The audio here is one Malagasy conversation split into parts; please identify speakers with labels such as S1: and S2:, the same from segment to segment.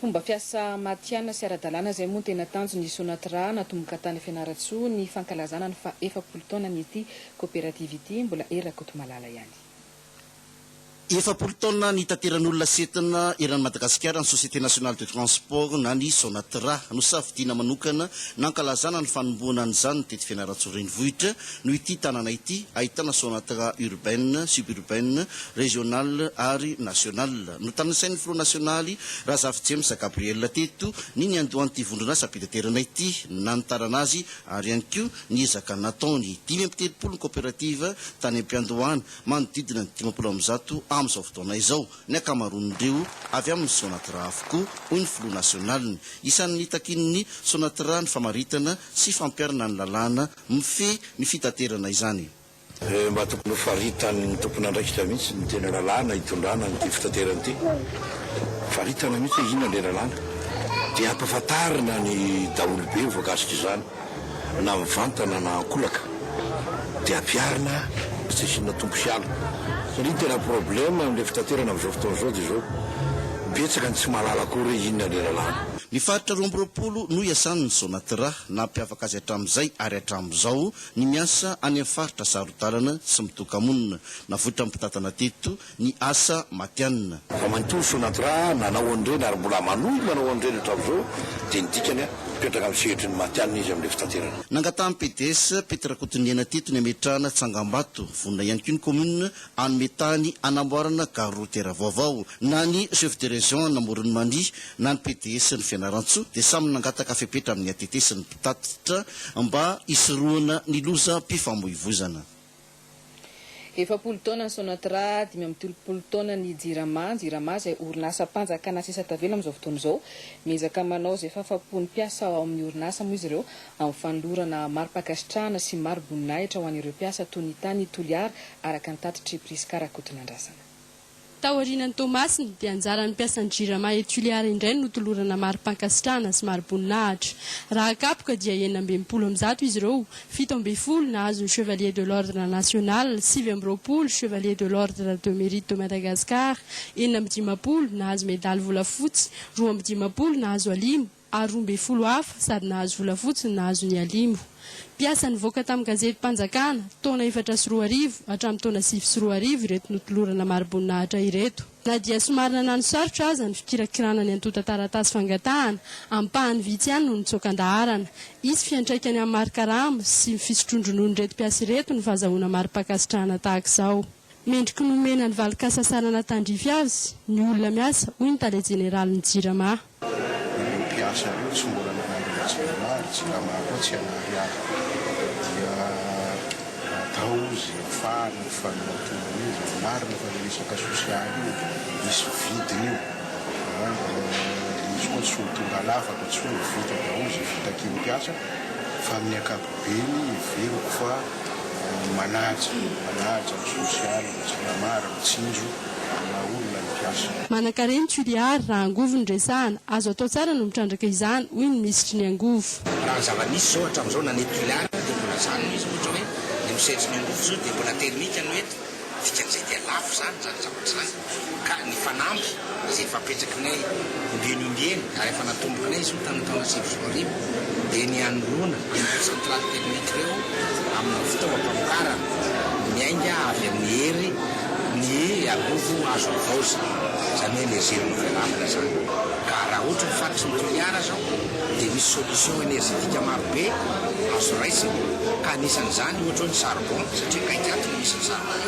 S1: Fomba fiasa matihanina sy ara-dalàna izay moa no tena tanjon'ny Sonatra natomboka tany Fianarantsoa ny fankalazana ny faha efapolo taonan'ity koperativa ity, mbola Hery Rakotomalala ihany.
S2: Efapolo taona nitateran'olona setina eran'i Madagasikara ny Société Nationale de Transport na ny Sonatra. Nosafidiana manokana nankalazana ny fanombohana an'izany teto Fianarantsoa Renivohitra noho ity tanàna ity ahitana Sonatra urbaine, suburbaine, régionale ary nationale. Notanisain'ny filoha nasionaly, Razafijames Gabriel teto, ny niandohan'ity vondron'asam-pitaterana ity, ny nanitarana azy ary ihany koa ny ezaka nataony. Dimy amby telopolo ny kaoperativa tany am-piandohana, manodidina ny dimampolo amby zato amin'izao fotoana izao. Ny ankamaroan'ireo avy amin'ny Sonatra avokoa, hoy ny filoha nasionaliny. Isan'ny nitakian'ny Sonatra ny famaritana sy fampiharana ny lalàna mifehy ny fitaterana izany. Dia mba tokony
S3: ho faritan'ny tompon'andraikitra mihitsy ny tena lalàna hitondrana an'ity fitaterana ity. Faritana mihitsy hoe inona ilay lalàna. Dia ampahafantarina ny daholobe voakasika izany na mivantana na ankolaka. Dia ampiharina fa tsy asiana tombo sy ala. Satria ny tena problème amin'ilay fitaterana amin'izao fotoana izao dia izao, betsaka ny tsy mahalala akory hoe inona ilay lalàna. Ny faritra roa amby
S2: roapolo no iasan'ny Sonatra, nampiavaka azy hatramin'izay ary hatramin'izao. Ny miasa any amin'ny faritra saro-dalana sy mitoka-monina. Navoitran'ny mpitantana teto ny asa matianina. Ramatoa Sonatra
S3: nanao an'ireny ary mbola manohy manao an'ireny hatramin'izao dia ny dikany mipetraka amin'ny sehatry ny matianina izy amin'ilay fitaterana. Nangatahan'ny PDS,
S2: Pety Rakotoniaina teto ny hametrahana tsangambato. Vonona ihany koa ny Commune hanome tany hanamboarana gare routière vaovao. Na ny chef de région an'Amoron'i Mania na ny PDS-n'i Fianarantsoa dia samy nangataka fepetra amin'ny ATT sy ny mpitatitra mba hisorohana ny lozam-pifamoivozana.
S1: Efapolo taona ny Sonatra, dimy amby telopolo taona ny Jirama. Ny Jirama izay orinasam-panjakana sisa tavela amin'izao fotoana izao. Miezaka manao izay fahafahampo ny mpiasa ao amin'ny orinasa moa izy ireo Amin'ny fanolorana mari-pankasitrahana sy mari-boninahitra ho an'ireo mpiasa toy ny tany Toliara, araka ny tatitr'i Prisca Rakotonandrasana. Taorianan'i
S4: Toamasina, dia anjaran'ny mpiasan'ny Jirama eto Toliara indray ny notolorana mari-pankasitrahana sy mari-boninahitra. Raha kapoka dia enina amby enimpolo amin'ny zato izy ireo, fito ambin'ny folo nahazo ny Chevalier de l'Ordre National, sivy amby roapolo Chevalier de l'Ordre de Mérite de Madagascar, enina amby dimampolo nahazo medaly volafotsy, roa amby dimampolo nahazo alimo, ary roa ambin'ny folo hafa sady nahazo volafotsy ny nahazo ny Alimo. Mpiasa nivoaka tamin'ny gazetim-panjakana, taona efatra sy roa arivo hatramin'ny taona sivy sy roa arivo ireto notolorana mari-boninahitra ireto. Na dia somary nanano sarotra aza ny fikirakirana ny antontan-taratasy fangatahana, ampahany vitsy ihany no nitsoaka an-daharana. Hisy fiantraikany amin'ny mari-karama sy ny fisotroan-drononon'ireto mpiasa ireto ny fahazahoana mari-pankasitrahana tahaka izao. Mendriky ny homena ny valin-kasasanana tandrify azy ny olona miasa, hoy ny tale jeneralin'ny Jirama. Ireo mpiasa
S5: ireo tsy mbola nanandrana Jirama ary Jirama koa tsy hanary ahy dia atao izay hafahana ny fanohantoana io izany. Marina fa ilay resaka sosialy io misy vidiny io an, mba lehitsy koa tsy ho tonga lafatra intsony, vita daholo izay vita kely mpiasa fa amin'ny ankapobeny. be ny heveriko fa ny manaja, manaja ny sosialy, ny jirama ary mitsinjo ny maha olona ny mpiasa. Manankarena Toliary
S4: raha angovo no resahana, azo atao tsara no mitrandraka izany, hoy ny minisitry ny angovo. Raha ny zava-nisy izao
S6: hatramin'izao nanety Toliary dia mbola izany mihitsy, ohatra hoe ny misehatry ny angovo izao dia mbola termika no eto. Dikan'izay dia lafo izany izany zavatra izany ka ny fanamby izay efa apetrakinay ombieny ombieny ary efa natombokinay izy io tamin'ny taona sivy sy roa arivo dia ny hanoloana ireo centrales thermiques ireo amina fitaovam-pamokarana miainga avy amin'ny hery ny angovo azo havaozina izany hoe energie renouvelable izany ka raha ohatra ny faritry ny Toliara izao dia misy solution energetique marobe azo raisina ka anisan'izany ohatra hoe ny charbon satria akaiky ato Diso izany.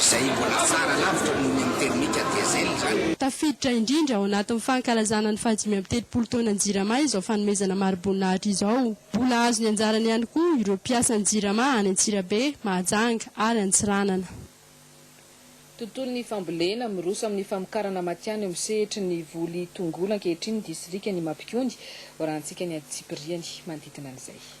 S6: Izay mbola tsara lavitra noho ny amin'ny terimika diesel izany. Tafiditra indrindra ao
S4: anatin'ny fankalazana ny fahadimy amby telopolo taonan'ny Jirama izao fanomezana mari-boninahitra izao. Mbola hahazo ny anjarany ihany koa ireo mpiasan'ny Jirama any Antsirabe, Mahajanga ary Antsiranana.
S1: Tontolon'ny fambolena, miroso amin'ny famokarana matian eo amin'ny sehetry ny voly tongolo ankehitriny ny distrikan'i Mapikony, hoarahantsika ny antsipiriany manodidina an'izay.